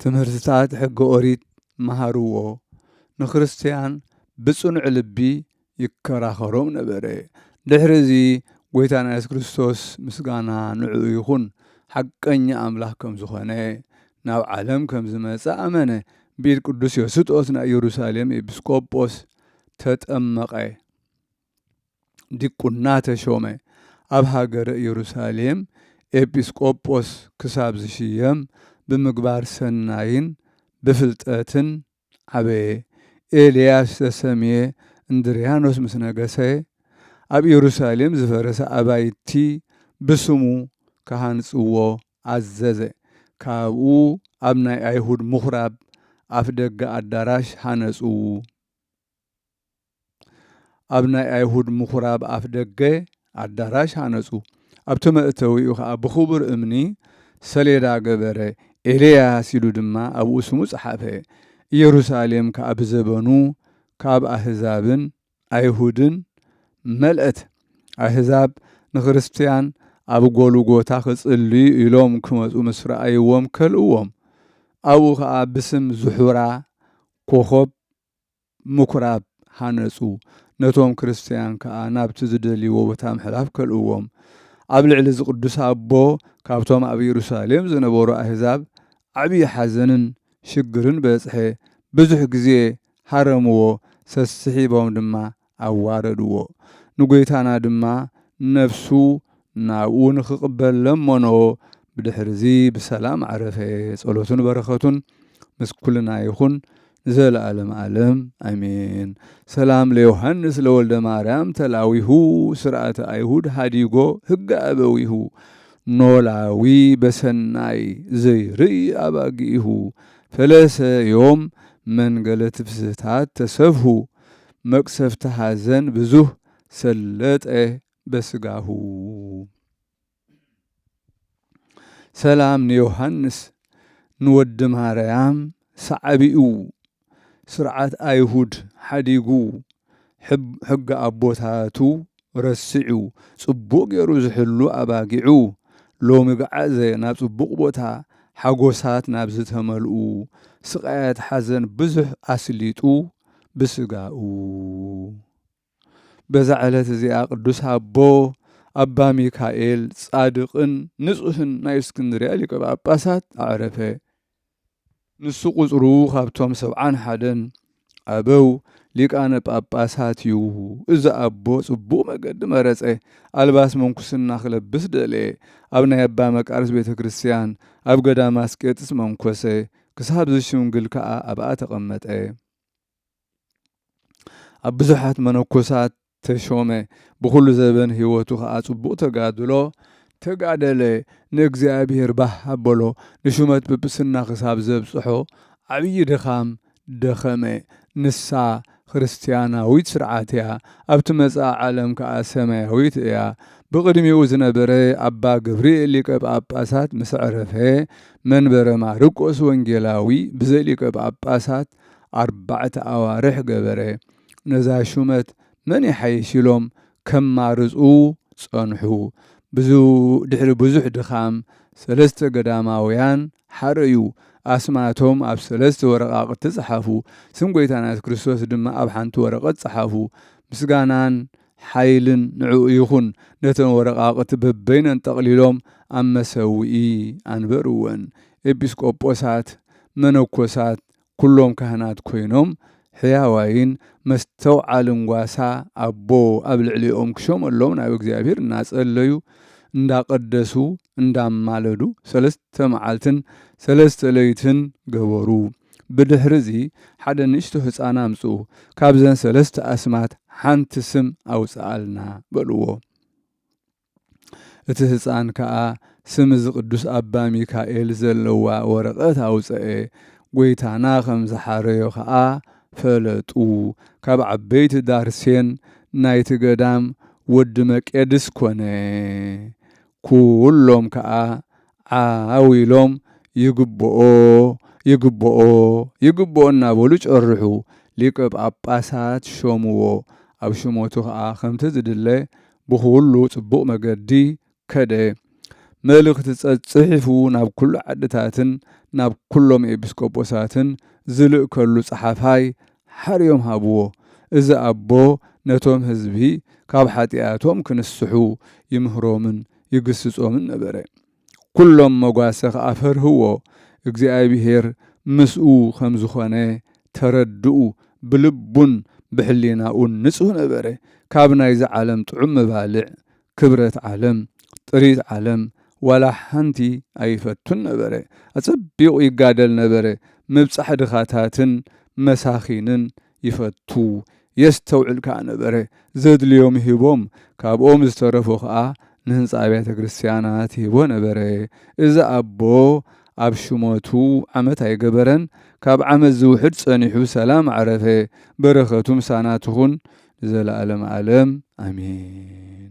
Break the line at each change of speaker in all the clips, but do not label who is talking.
ትምህርትታት ሕገ ኦሪት መሃርዎ፣ ንክርስትያን ብጽኑዕ ልቢ ይከራኸሮም ነበረ። ድሕሪ እዚ ጐይታና የሱስ ክርስቶስ ምስጋና ንዕኡ ይኹን ሓቀኛ ኣምላኽ ከም ዝኾነ ናብ ዓለም ከም ዝመጸ ኣመነ። ብኢድ ቅዱስ ዮስጦስ ናይ ኢየሩሳሌም ኤጲስቆጶስ ተጠመቐ። ዲቁና ተሾመ ኣብ ሃገረ ኢየሩሳሌም ኤጲስ ቆጶስ ክሳብ ዝሽየም ብምግባር ሰናይን ብፍልጠትን ዓበየ። ኤልያስ ዝተሰምየ እንድርያኖስ ምስ ነገሰ ኣብ ኢየሩሳሌም ዝፈረሰ ኣባይቲ ብስሙ ክሃንጽዎ ኣዘዘ። ካብኡ ኣብ ናይ ኣይሁድ ምኩራብ ኣፍደገ ኣዳራሽ ሃነጹ። ኣብ ናይ ኣይሁድ ምኹራብ ኣፍ ደገ ኣዳራሽ ሃነጹ። ኣብቲ መእተዊኡ ኸኣ ብኽቡር እምኒ ሰሌዳ ገበረ፣ ኤልያስ ኢሉ ድማ ኣብኡ ስሙ ጸሓፈ። ኢየሩሳሌም ከኣ ብዘበኑ ካብ ኣህዛብን ኣይሁድን መልአት። ኣህዛብ ንክርስትያን ኣብ ጎልጎታ ክጽልዩ ኢሎም ክመጹ ምስ ረኣይዎም ከልእዎም። ኣብኡ ኸኣ ብስም ዝሑራ ኮኾብ ምኵራብ ሃነጹ፣ ነቶም ክርስትያን ከኣ ናብቲ ዝደልይዎ ቦታ ምሕላፍ ከልእዎም። ኣብ ልዕሊ እዚ ቅዱስ ኣቦ ካብቶም ኣብ የሩሳሌም ዝነበሩ ኣህዛብ ዓብዪ ሓዘንን ሽግርን በጽሐ፣ ብዙሕ ግዜ ሃረምዎ፣ ሰስሒቦም ድማ ኣዋረድዎ። ንጐይታና ድማ ነፍሱ ናብኡ ንኽቕበል ለመኖ፣ ብድሕርዚ ብሰላም ዓረፈ። ጸሎቱን በረኸቱን ምስ ኵልና ይኹን ንዘለኣለም ኣለም ኣሜን። ሰላም ለዮሃንስ ለወልደማርያም ተላዊሁ ሥርዓተ ኣይሁድ ኀዲጎ ሕገ ኣበዊሁ ኖላዊ በሠናይ ዘይርእይ ኣባጊኢሁ ፈለሰ ዮም መንገለ ትፍሥሕታት ተሰብሑ መቅሰፍቲ ሐዘን ብዙህ ሰለጠ በስጋሁ። ሰላም ንዮሐንስ ንወዲ ማርያም ሰዓቢኡ ስርዓት ኣይሁድ ሓዲጉ ሕጊ ኣቦታቱ ረሲዑ ጽቡቕ ጌሩ ዝሕሉ ኣባጊዑ ሎሚ ገዓዘ ናብ ጽቡቕ ቦታ ሓጎሳት ናብ ዝተመልኡ ስቓያት ሓዘን ብዙሕ ኣስሊጡ ብስጋኡ በዛ ዕለት እዚኣ ቅዱስ ኣቦ ኣባ ሚካኤል ጻድቕን ንጹሕን ናይ እስክንድርያ ሊቀ ጳጳሳት ኣዕረፈ። ንሱ ቍጽሩ ኻብቶም ሰብዓን ሓደን ኣበው ሊቃነ ጳጳሳት እዩ። እዚ ኣቦ ጽቡቕ መገዲ መረጸ፣ ኣልባስ ምንኩስና ኺለብስ ደለየ። ኣብ ናይ ኣባ መቃርስ ቤተ ክርስትያን ኣብ ገዳም ኣስቄጥስ መንኰሰ፣ ክሳብ ዚሽምግል ከኣ ኣብኣ ተቐመጠ። ኣብ ብዙሓት መነኮሳት ተሾመ ብኹሉ ዘበን ህይወቱ ከኣ ጽቡቕ ተጋድሎ ተጋደለ፣ ንእግዚኣብሄር ባህ ኣበሎ፣ ንሹመት ጵጵስና ክሳብ ዘብጽሖ ዓብዪ ድኻም ደኸመ፣ ንሳ ክርስትያናዊት ስርዓት እያ፣ ኣብ ትመጽኣ ዓለም ከኣ ሰማያዊት እያ፣ ብቕድሚኡ ዝነበረ ኣባ ገብርኤል ሊቀ ጳጳሳት ምስ ዐረፈ መንበረ ማርቆስ ወንጌላዊ ብዘይ ሊቀ ጳጳሳት ኣርባዕተ ኣዋርሕ ገበረ። ነዛ ሹመት መን ይሓይሽ ኢሎም ከማርጹ ጸንሑ። ድሕሪ ብዙሕ ድኻም ሰለስተ ገዳማውያን ሓረዩ። ኣስማቶም ኣብ ሰለስተ ወረቓቕቲ ጸሓፉ። ስም ጐይታና የሱስ ክርስቶስ ድማ ኣብ ሓንቲ ወረቐት ጸሓፉ። ምስጋናን ሓይልን ንዕኡ ይኹን ነተን ወረቓቕቲ በበይነን ጠቕሊሎም ኣብ መሰውኢ ኣንበርወን። ኤጲስቆጶሳት፣ መነኮሳት፣ ኩሎም ካህናት ኮይኖም ሕያዋይን መስተውዓልን ጓሳ ኣቦ ኣብ ልዕሌኦም ክሾመሎም ናብ እግዚኣብሔር እናጸለዩ እንዳቐደሱ እንዳማለዱ ሰለስተ መዓልትን ሰለስተ ለይትን ገበሩ። ብድሕርዚ ሓደ ንእሽቶ ህጻን ኣምጽኡ፣ ካብዘን ሰለስተ ኣስማት ሓንቲ ስም ኣውጽኣልና በልዎ። እቲ ህጻን ከኣ ስም እዚ ቅዱስ ኣባ ሚካኤል ዘለዋ ወረቐት ኣውጸኤ፣ ጐይታና ከም ዝሓረዮ ከኣ ፈለጡ። ካብ ዓበይቲ ዳርሴን ናይቲ ገዳም ወዲ መቄድስ ኰነ፣ ኵሎም ከኣ ዓው ኢሎም ይግብኦ ይግብኦ ይግብኦ እናበሉ ጨርሑ፣ ሊቀ ጳጳሳት ሾምዎ፣ ኣብ ሹመቱ ኸኣ ከምቲ ዝድለ ብኹሉ ጽቡቕ መገዲ ከደ፣ መልእኽቲ ጸጽሒፉ ናብ ኩሉ ዓድታትን ናብ ኩሎም ኤጲስቆጶሳትን ዝልእከሉ ጸሓፋይ ሓርዮም ሃብዎ፣ እዚ ኣቦ ነቶም ሕዝቢ ካብ ኃጢኣቶም ክንስሑ ይምህሮምን ይግስጾምን ነበረ። ኩሎም መጓሰ ከኣ ፈርህዎ፣ እግዚኣብሄር ምስኡ ከም ዝኾነ ተረድኡ፣ ብልቡን ብሕሊናኡን ንጹህ ነበረ፣ ካብ ናይዚ ዓለም ጥዑም መባልዕ፣ ክብረት ዓለም፣ ጥሪት ዓለም፣ ዋላ ሓንቲ ኣይፈቱን ነበረ። ኣጸቢቑ ይጋደል ነበረ፣ ምብጻሕ ድኻታትን መሳኺንን ይፈቱ የስተውዕል ከኣ ነበረ። ዘድልዮም ሂቦም ካብኦም ዝተረፉ ከኣ ንህንጻ ኣብያተ ክርስቲያናት ይህቦ ነበረ። እዚ ኣቦ ኣብ ሹመቱ ዓመት ኣይገበረን ካብ ዓመት ዝውሕድ ጸኒሑ ብሰላም ዓረፈ። በረከቱ ምሳና ትኹን ንዘለኣለም ኣለም ኣሜን።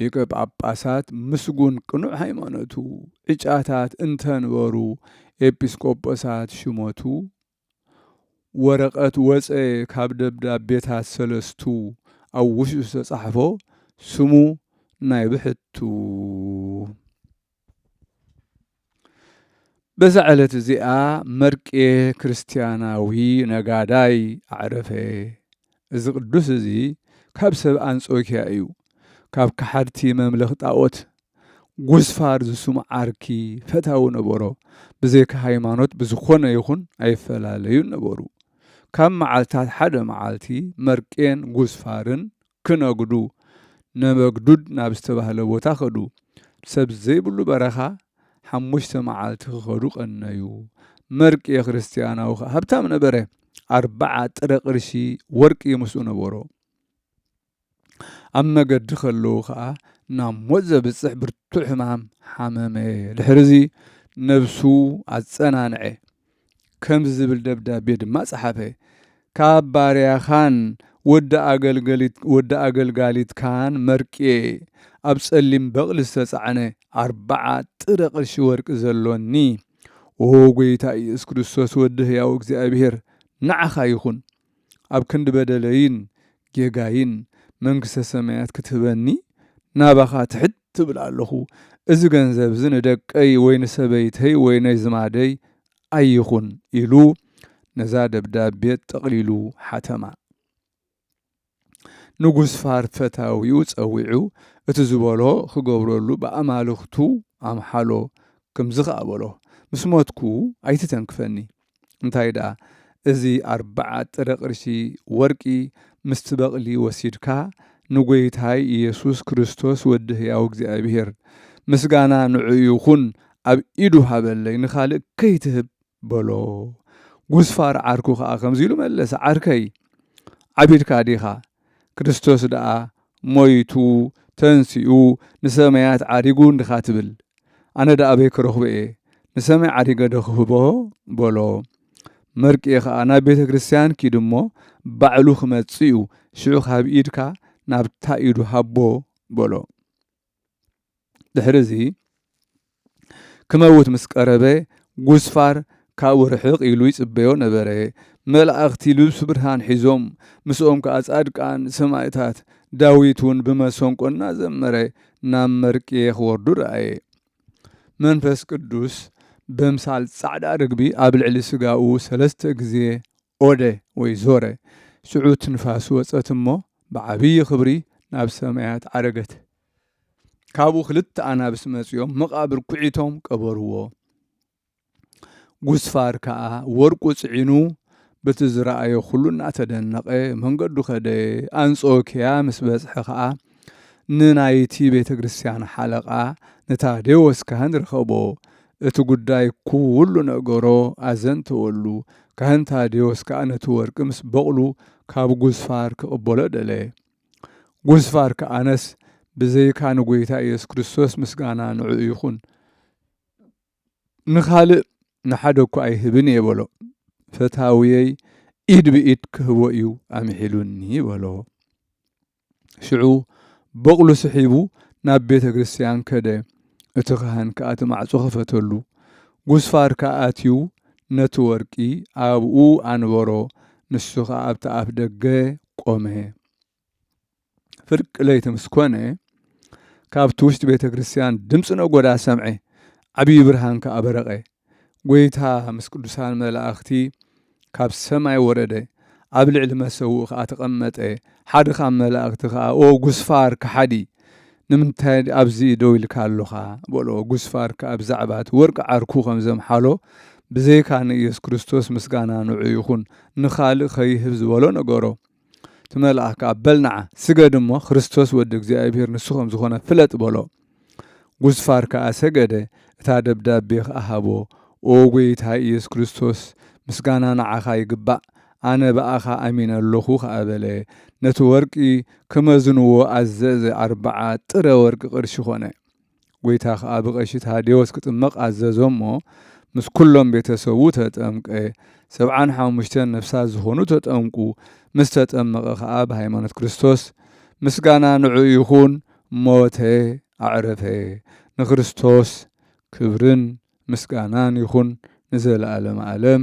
ሊቀ ጳጳሳት ምስጉን ቅኑዕ ሃይማኖቱ ዕጫታት እንተንበሩ ኤጲስቆጶሳት ሽመቱ ወረቐት ወጸ ካብ ደብዳቤታት ሰለስቱ ኣብ ውሽጡ ዝተጻሕፎ ስሙ ናይ ብሕቱ በዛ ዕለት እዚኣ መርቄ ክርስትያናዊ ነጋዳይ ኣዕረፈ። እዚ ቅዱስ እዚ ካብ ሰብ ኣንጾኪያ እዩ። ካብ ከሓድቲ መምለኽ ጣዖት ጉስፋር ዝስሙ ዓርኪ ፈታዊ ነበሮ። ብዘይካ ሃይማኖት ብዝኾነ ይኹን ኣይፈላለዩን ነበሩ። ካብ መዓልታት ሓደ መዓልቲ መርቄን ጉስፋርን ክነግዱ ነበግዱድ ናብ ዝተባህለ ቦታ ከዱ። ሰብ ዘይብሉ በረኻ ሓሙሽተ መዓልቲ ክኸዱ ቀነዩ። መርቅየ ክርስትያናዊ ከኣ ሃብታም ነበረ፣ ኣርብዓ ጥረ ቅርሺ ወርቂ ምስኡ ነበሮ። ኣብ መገዲ ከለዉ ከኣ ናብ ሞት ዘብጽሕ ብርቱዕ ሕማም ሓመመ። ድሕርዚ ነብሱ ኣጸናንዐ። ከምዚ ዝብል ደብዳቤ ድማ ጸሓፈ። ካብ ባርያኻን ወዲ ኣገልጋሊትካን መርቅየ ኣብ ጸሊም በቕሊ ዝተጻዕነ ኣርብዓ ጥረ ቅርሺ ወርቂ ዘሎኒ። ኦሁ ጐይታ ኢየሱስ ክርስቶስ ወዲ ሕያው እግዚኣብሔር ንዓኻ ይኹን። ኣብ ክንዲ በደለይን ጌጋይን መንግስተ ሰማያት ክትህበኒ ናባኻ ትሕት እብል ኣለኹ። እዚ ገንዘብ እዚ ንደቀይ ወይ ንሰበይተይ ወይ ነዝማደይ ኣይኹን ኢሉ ነዛ ደብዳቤ ጠቕሊሉ ሓተማ። ንጉስ ፋር ፈታዊኡ ጸዊዑ እቲ ዝበሎ ክገብረሉ ብኣማልኽቱ ኣምሓሎ። ክምዚ ከኣ በሎ ምስ ሞትኩ ኣይትተንክፈኒ። እንታይ ደኣ እዚ ኣርብዓ ጥረ ቅርሺ ወርቂ ምስቲ በቕሊ ወሲድካ ንጐይታይ ኢየሱስ ክርስቶስ ወዲ ሕያው እግዚኣብሔር ምስጋና ንዕኡ ይኹን ኣብ ኢዱ ሃበለይ ንኻልእ ከይትህብ በሎ። ጕስፋር ዓርኩ ኸኣ ከምዚ ኢሉ መለሰ ዓርከይ ዓቢድካ ዲኻ ክርስቶስ ደኣ ሞይቱ ተንሲኡ ንሰማያት ዓሪጉ እንድኻ ትብል ኣነ ደኣ ኣበይ ክረኽቦ እየ ንሰማይ ዓሪገ ዶ ክህቦ በሎ መርቅየ ከኣ ናብ ቤተ ክርስቲያን ኪድ እሞ ባዕሉ ክመጽእ እዩ ሽዑ ካብ ኢድካ ናብታ ኢዱ ሃቦ በሎ ድሕሪ እዚ ክመውት ምስ ቀረበ ጉስፋር ካብኡ ርሕቕ ኢሉ ይጽበዮ ነበረ። መላእኽቲ ልብሱ ብርሃን ሒዞም፣ ምስኦም ከኣ ጻድቃን ሰማእታት፣ ዳዊት እውን ብመሰንቆ እናዘመረ ናብ መርቅየ ክወርዱ ረኣየ። መንፈስ ቅዱስ በምሳል ጻዕዳ ርግቢ ኣብ ልዕሊ ስጋኡ ሰለስተ ግዜ ኦደ ወይ ዞረ፣ ሽዑ ትንፋሱ ወጸት እሞ ብዓብዪ ኽብሪ ናብ ሰማያት ዓረገት። ካብኡ ኽልተ ኣናብስ መጺኦም መቓብር ኲዒቶም ቀበርዎ። ጉስፋር ከኣ ወርቁ ጽዒኑ በቲ ዝረኣዮ ዅሉ እናተደነቐ መንገዱ ከደ። ኣንጾክያ ምስ በጽሐ ኸኣ ንናይቲ ቤተ ክርስቲያን ሓለቓ ንታዴዎስ ካህን ረኸቦ። እቲ ጉዳይ ኩሉ ነገሮ ኣዘንተወሉ፣ ካህን ታድዮስ ከኣ ነቲ ወርቂ ምስ በቕሉ ካብ ጉስፋር ክቕበሎ ደለየ። ጉስፋር ከኣ ኣነስ ብዘይካ ንጐይታ ኢየሱስ ክርስቶስ ምስጋና ንዕኡ ይኹን፣ ንኻልእ ንሓደ እኳ ኣይህብን እየ በሎ። ፈታውየይ ኢድ ብኢድ ክህቦ እዩ ኣምሒሉኒ በሎ። ሽዑ በቕሉ ስሒቡ ናብ ቤተ ክርስቲያን ከደ። እቲ ካህን ከኣ እቲ ማዕጾ ኸፈተሉ። ጉስፋር ከኣ ኣትዩ ነቲ ወርቂ ኣብኡ ኣንበሮ፣ ንሱ ኸኣ ኣብቲ ኣፍ ደገ ቆመ። ፍርቂ ለይቲ ምስ ኮነ ካብቲ ውሽጢ ቤተ ክርስቲያን ድምፂ ነጎዳ ሰምዐ፣ ዓብዪ ብርሃን ከኣ በረቐ። ጐይታ ምስ ቅዱሳን መላእኽቲ ካብ ሰማይ ወረደ፣ ኣብ ልዕሊ መሰውኡ ኸኣ ተቐመጠ፣ ሓደ ኻብ መላእኽቲ ኸኣ፣ ኦ ጕስፋር ከሓዲ፣ ንምንታይ ኣብዚ ደው ኢልካ ኣሎኻ? በሎ። ጕስፋር ከኣ ብዛዕባ እቲ ወርቂ ዓርኩ ኸም ዘምሓሎ፣ ብዘይካ ንኢየሱስ ክርስቶስ ምስጋና ንዕኡ ይኹን፣ ንኻልእ ኸይህብ ዝበሎ ነገሮ። ትመልኣ ከኣ በል ንዓ ስገድ እሞ ክርስቶስ ወዲ እግዚኣብሔር ንሱ ከም ዝኾነ ፍለጥ በሎ። ጉስፋር ከኣ ሰገደ እታ ደብዳቤ ከኣ ሃቦ ኦ ጎይታይ ኢየሱስ ክርስቶስ ምስጋና ንዓኻ ይግባእ ኣነ ብኣኻ ኣሚነ ኣሎኹ ከኣ በለ ነቲ ወርቂ ክመዝንዎ ኣዘዘ ኣርብዓ ጥረ ወርቂ ቅርሺ ኮነ። ጐይታ ኸኣ ብቐሺ ታዴዎስ ክጥመቕ ኣዘዞ እሞ፣ ምስ ኵሎም ቤተ ሰቡ ተጠምቀ። ሰብዓን ሓሙሽተን ነፍሳት ዝኾኑ ተጠምቁ። ምስ ተጠመቐ ኸኣ ብሃይማኖት ክርስቶስ፣ ምስጋና ንዕኡ ይኹን፣ ሞተ፣ ኣዕረፈ። ንክርስቶስ ክብርን ምስጋናን ይኹን ንዘለኣለመ ኣለም።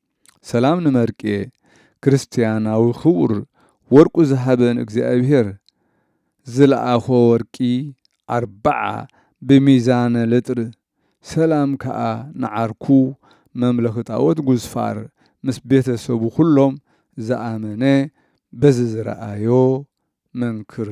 ሰላም ንመርቄ ክርስትያናዊ ክቡር ወርቁ ዝሃበን እግዚኣብሔር ዝለኣኾ ወርቂ ኣርብዓ ብሚዛነ ልጥር ሰላም ከኣ ንዓርኩ መምለኺ ጣኦት ጉዝፋር ምስ ቤተ ሰቡ ኩሎም ዝኣመነ በዚ ዝረኣዮ መንክር